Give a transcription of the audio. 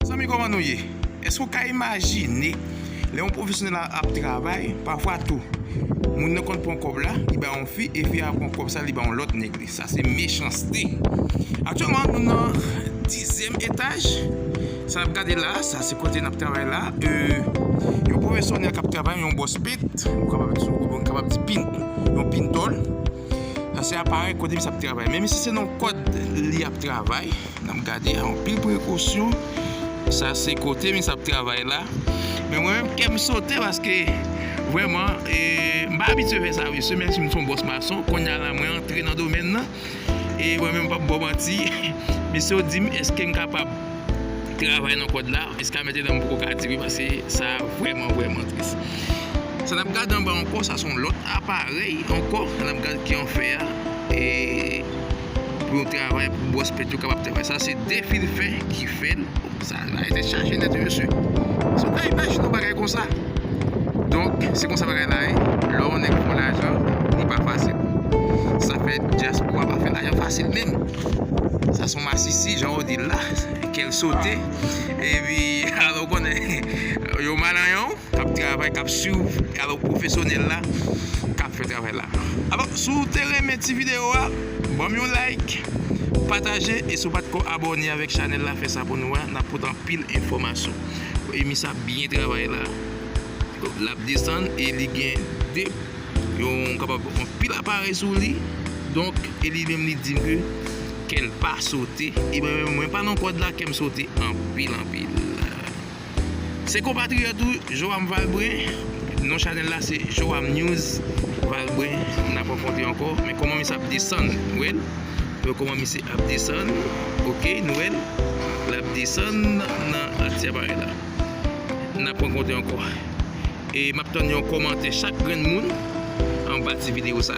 Zanmi koman nou ye? Eske ou ka imajine lè yon pwofesyonèl ap travay, pafwa tou moun nan konn pran kòb la li bay yon fi e fi a pran kòb sa li bay yon lòt nèg li. Sa se mechanste. Aktyèlman nou nan dizyèm etaj. Sa nap gade la, sa se kote nap travay la. Yon pwofesyonèl kap travay, yon bòs pent, nou kapab di pintòl. Sa se aparèy kote misye ap travay. Men misye se nan yon kòd li ap travay. N ap gade anpil prekosyon. Sa se kote misye ap travay la. Men mwen menm kè m sote paske vrèman e m pa abitye fè sa mesye menm si m son bòs mason. Kounya la mwen antre nan domèn nan. E mwen menm m p ap ba w manti mesye yo di m èske m kapab. travay nan kòd la jiska mete dan m poko ka di wi paske sa vrèman vrèman tris sa nap gad anba ankò sa son lòt aparèy ankò nap gad ki an fè a e pou yon travay pou bwòs pèt yo kapab travay sa se de fil fè ki fèl sa la e tèt chaje nèt wi mesye se pa imajine yon bagay konsa donk se konsa bagay la ye lè yon nèg fè lajan li pa fasil sa fè dyaspora pa fè lajan fasil menm. Sa son masisi jan ou di l la. Kè l sote. Epi alò ou konnen yon malayan k ap travay, k ap swiv alò pwofesyonèl la k ap fè travay la. Alò si w te renmen ti videyo a, ban m yon like, pataje e si w pa t ko abòne avèk chanèl la fè sa pou nou a. N ap pote anpil enfòmasyon. Emi sa ap byen travay la. L ap desann e li gen 2. Yo kapab anpil aparèy sou li, donk e li menm li di m ke kè l pa sote, e mwen menm mwen pa nan kòd la kè m sote anpil anpil. Se konpatriyòt ou Joam Valbrun, non chanèl la se Joam News Valbrun, n ap rankontre ankò, men kòman misye ap desann, ou wè l, ou wè kòman misye ap desann, ok, nou wè l, l ap desann nan ti aparèy la, n ap rankontre ankò. E map tann yon komantè chak grenn moun anba ti video sa.